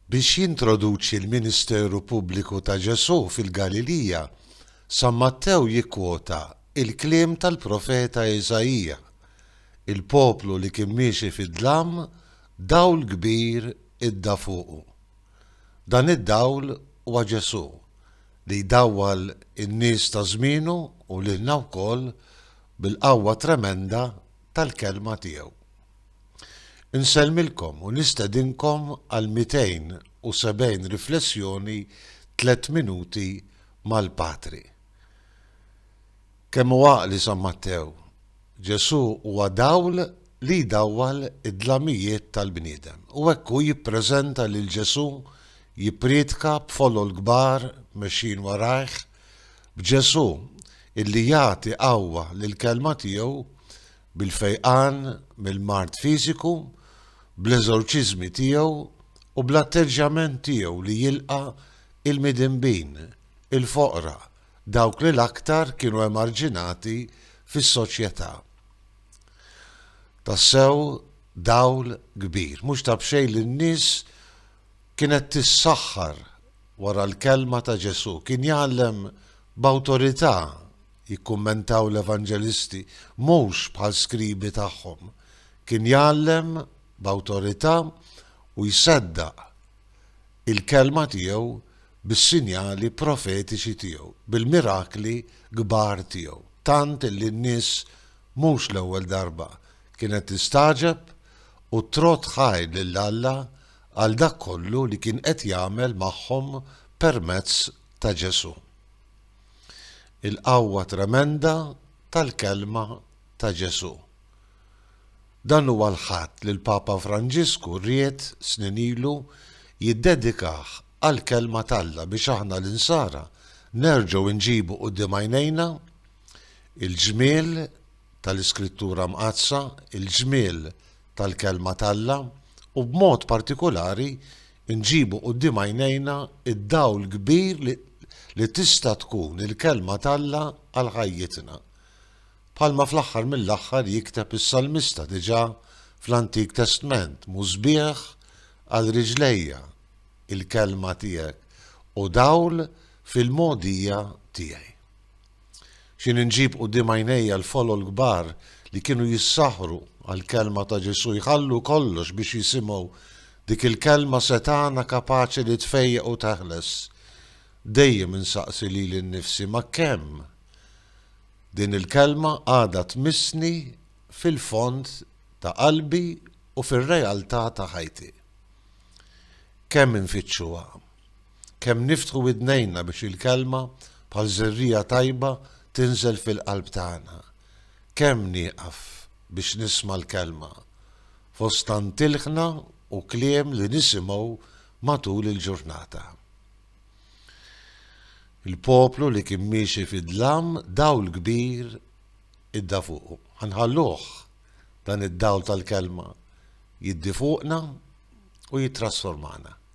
Biex jintroduċi l-ministeru pubbliku ta' Ġesù fil-Galilija, San Mattew jikkwota l-kliem tal-profeta Isaija, Il-poplu li kien miexi fid-dlam, dawl kbir idda fuqu. Dan id-dawl huwa Ġesù, li jdawwal in-nies ta' żmienu u lilna wkoll bil-qawwa tremenda tal-kelma tiegħu. Insellmilkom u nistedinkom għal 270 riflessjoni Tliet Minuti mal-Patri. Kemm hu għaqli San Mattew! Ġesù huwa dawl li jdawwal id-dlamijiet tal-bniedem. U hekk hu jippreżenta lil Ġesù, jippriedka b'folol kbar mexjin warajh, b'Ġesù illi jagħti qawwa lill-kelma tiegħu bil-fejqan mill-mard fiżiku, bl-eżorċiżmi tiegħu u bl-atteġġjament tiegħu li jilqa' l-midinbin, il-foqra, dawk li l-aktar kienu emarġinati fis-soċjetà. Tassew dawl kbir. Mhux ta' b'xejn li n-nies Kienet tissaħħar wara l-kelma ta' Ġesù. Kien jgħallem b'awtorità, jikkummentaw l-Evanġelisti, mhux bħall-skribi tagħhom. Kien jgħallem b'awtorità u jseddaq il-kelma tiegħu bis-sinjali profetiċi tiegħu, bil-mirakli kbar tiegħu, tant li n-nies mhux l-ewwel darba kienet tistagħġeb u t-trott ħaj lil Alla għal dak kollu li kien qed jagħmel magħhom permezz ta' Ġesù. Il-qawwa tremenda tal-kelma ta' Ġesù. Dan huwa l-Ħadd li l-Papa Franġisku ried snin ilu jiddedikah għall-kelma t'Alla biex aħna l-insara nerġgħu nġibu quddiem għajnejna Il-ġmiel tal-Iskrittura Mqaddsa, il-ġmiel tal-Kelma t'Alla, u b'mod partikulari nġibu quddiem għajnejna d-dawl kbir li tista' tkun il-Kelma t'Alla għal ħajjitna. Bħalma fl-aħħar mill-aħħar jikteb is-salmista diġà fl-Antik Testment, Musbieħ għal riġlejja, il-Kelma tiegħek, u dawl fil-mogħdija tiegħi. X'inhi nġib quddiem għajnejja l-folol kbar li kienu jissaħħru għall-kelma ta' Ġesù, jħallu kollox biex jisimgħu dik il-kelma setgħana kapaċi li tfejjaq u teħles. Dejjem insaqsi lili nnifsi ma' kemm din il-kelma għadha tmissni fil-fond ta' qalbi u fir-realtà ta' ħajti. Kemm infittxuha? Kemm niftħu widnejna biex il-Kelma, bħal żerriegħa tajba, tinżel fil-qalb tagħna. Kemm nieqaf biex nisma' l-Kelma, fost tant ilħna u kliem li nisimgħu matul il-ġurnata. Il-poplu li kien miexi fid-dlam dawl kbir idda fuqu. Ħa nħalluh dan id-dawl tal-Kelma jiddi fuqna u jittrasformana.